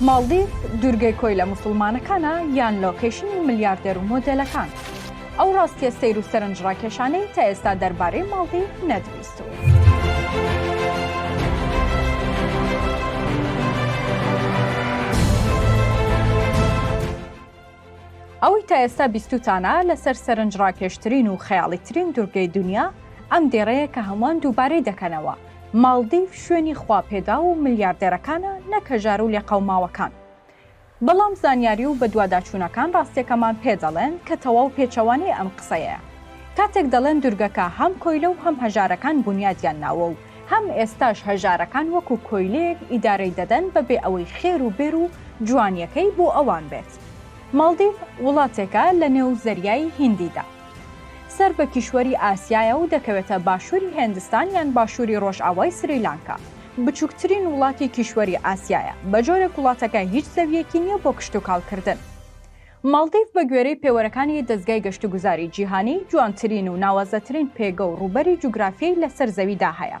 ماڵدیڤ دوورگەی کۆیلە موسوڵمانەکانە یان لۆکەیشنی ملیاردێر و مۆدێلەکان؟ ئەو ڕاستیە سەیر و سەرنجڕاکێشانەی تا ئێستا دەربارەی ماڵدیڤ نەدروستوە. ئەوەی تا ئێستا بیستوتانە لەسەر سەرنجڕاکێشترین و خەیاڵیترین دوورگەی دونیا، ئەم دێڕەیە کە هەمووان دووبارەی دەکەنەوە، ماڵدیڤ شوێنی خواپێداو و ملیاردێرەکانە نەک هەژار و لێقەوماوەکان. بەڵام زانیاری و بەدواداچوونەکان ڕاستیەکەمان پێ دەڵێن کە تەواو پێچەوانەی ئەم قسەیەیە. کاتێک دەڵێن دوورگەکە هەم کۆیلە و هەم هەژارەکان بونیادیان ناوە و هەم ئێستاش هەژارەکان وەکو کۆیلەیەک ئیدارەی دەدەن بە بێ ئەوەی خێر و بێر و جوانیەکەی بۆ ئەوان بێت. ماڵدیڤ وڵاتێکە لە نێو زەریای هیندیدا. سەر بە کیشوەری ئاسیایە و دەکەوێتە باشوری هێندستان یان باشوری ڕۆژئاوای سریلانکا. بچوکترین وڵاتی کیشوەری ئاسیایە. بە جۆرێک وڵاتەکە هیچ زەویەکی نیە بۆ کشتوکاڵ کردن. ماڵدیڤ بە گوێرەی پێوەرەکانی دەزگای گەشتوگوزاری جیهانی، جوانترین و ناوازەترین پێگە و ڕووبەری جوگرافیی لەسەر زەویدا هەیە.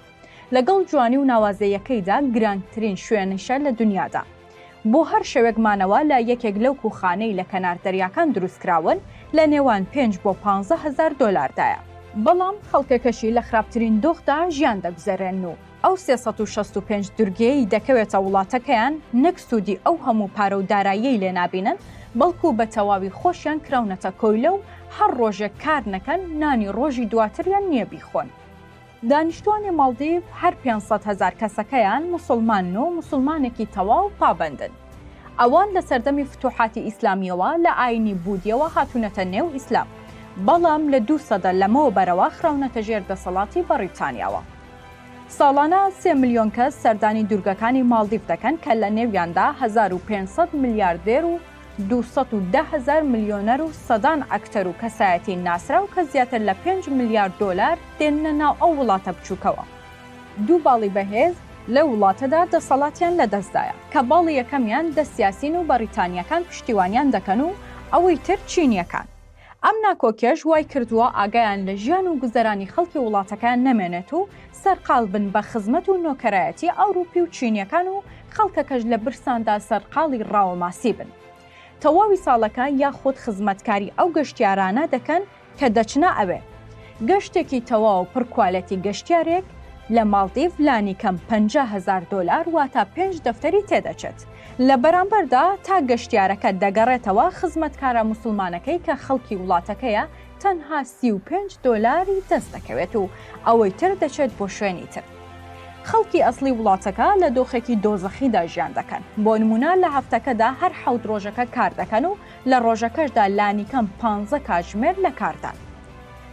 لەگەڵ جوانی و ناوازەییەکەیدا، گرانگترین شوێنیشە لە دنیادا. بۆ هەر شەوێک مانەوە لە یەکێک لەو کووخانەی لە کەنار دەریاکان دروستکراون، لە نێوان پێنج بۆ پانزە هەزار دۆلاردایە. بەڵام خەڵکەکەشی لە خراپترین دۆخدا ژیان دەگوزەرێنن و ئەو سێ سەد و شەست و پێنج دورگەیەی دەکەوێتە وڵاتەکەیان نەک سوودی ئەو هەموو پارە و داراییەی لێ نابینن، بەڵکو بە تەواوی خۆشیان کراونەتە کۆیلە و هەر ڕۆژێک کار نەکەن نانی ڕۆژی دواتریان نییە بیخۆن. دانیشتوانی ماڵدیڤ هەر پێنج سەد هەزار کەسەکەیان موسڵمانن و موسڵمانێکی تەواو پابەندن. ئەوان لە سەردەمی فتوحاتی ئیسلامییەوە لە ئایینی بودییەوە هاتوونەتە نێو ئیسلام، بەڵام لە دوو سەدە لەمەوبەرەوە خراونەتە ژێر دەسەڵاتی بەڕیتانیاوە. ساڵانە سێ ملیۆن کەس سەردانی دوورگەکانی ماڵدیف دەکەن کە لە نێویاندا 1500 ملیاردێر و 210 هەزار ملیۆنەر و سەدان ئەکتەر و کەسایەتی ناسراو کە زیاتر لە پێنج ملیار دۆلار دێننە ناو ئەو وڵاتە بچووکەوە. دوو باڵی بەهێز لەو وڵاتەدا دەسەڵاتیان لەدەستدایە، کە باڵی یەکەمیان دەست یاسین و بەڕیتانییەکان پشتیوانیان دەکەن و ئەوەی تر چینییەکان. ئەم ناکۆکیەش وای کردووە ئاگایان لە ژیان و گوزەرانی خەڵکی وڵاتەکەیان نەمێنێت و سەرقال بن بە خزمەت و نۆکەرایەتی ئەوروپی و چینیەکان و خەڵکەکەش لە برساندا سەرقاڵی ڕاوە ماسی بن تەواوی ساڵەکە یاخود خزمەتکاری ئەو گەشتیارانە دەکەن کە دەچنە ئەوێ. گەشتێکی تەواو پڕ کوالێتی گەشتیارێک لە ماڵدیڤ لانیکەم پەنجا هەزار دۆلار واتا پێنج دەفتەری تێدەچێت. لە بەرامبەردا تا گەشتیارەکە دەگەڕێتەوە، خزمەتکارە موسڵمانەکەی کە خەڵکی وڵاتەکەیە تەنها سی و پێنج دۆلاری دەست دەکەوێت و ئەوەی تر دەچێت بۆ شوێنی تر. خەڵکی ئەسڵی وڵاتەکە لە دۆخێکی دۆزەخیدا ژیان دەکەن، بۆ نموونە لە هەفتەکەدا هەر حەوت ڕۆژەکە کار دەکەن و لە ڕۆژەکەشدا لانیکەم پانزە کاتژمێر لە کاردان.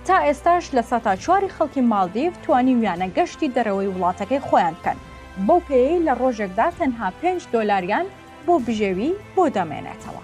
تا ئێستاش لە سەتا چواری خەڵکی ماڵدیڤ توانیویانە گەشتی دەرەوەی وڵاتەکەی خۆیان بکەن، بەو پێیەی لە ڕۆژێکدا تەنها پێنج دۆلاریان بۆ بژێوی بۆ دەمێنێتەوە.